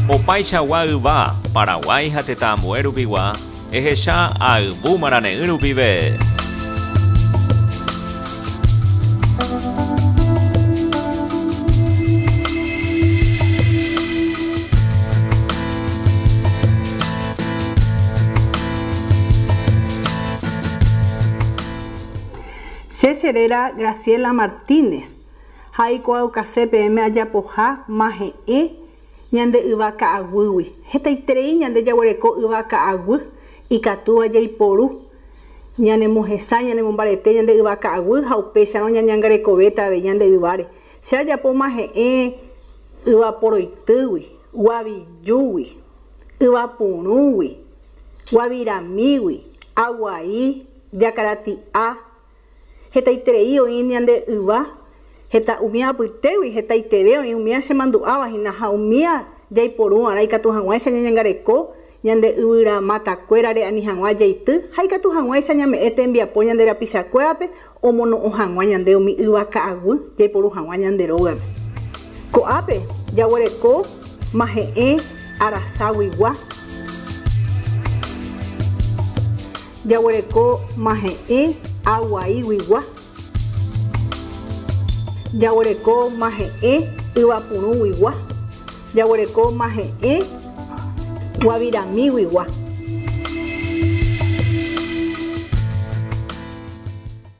Opaichagua yva, Paraguái ha tetã ambue rupigua, ehecha ayvu marane'ỹ rupive. Che che réra Graciela Martínez. ha aikuaaukase peẽme ajapoha mahe'ẽ ñande yva ka'aguýgui. Hetaiterei ñande jaguereko yva ka'aguy ikatúva jaiporu ñanemohesãi, ñanemombarete ñande yva ka'aguy ha upéicharõ ñañangarekovéta avei ñande yváre. Che ajapo mahe'ẽ yva poroitýgui, guavijúgui, yva purũgui, guaviramígui, aguai, jakarati'a, Hetaiterei oĩ ñande yva, heta umía apytégui, hetaiterei oĩ umía chemandu'áva hína ha umía jaiporu va'erã ikatu hag̃uáicha ñañangareko ñande yvyra mata kuérare ani hag̃ua jeity ha ikatu hag̃uáicha ñame'ẽ tembiapo ñande rapicha kuérape omono'õ hag̃ua ñande umi yva ka'aguy jaiporu hag̃ua ñande rógape. Ko'ápe jaguereko mahe'ẽ arasaguigua. Jaguereko mahe'ẽ aguaíguigua. Jaguereko mahe'ẽ yvapurũguigua. Jaguereko mahe'ẽ guaviramíguigua.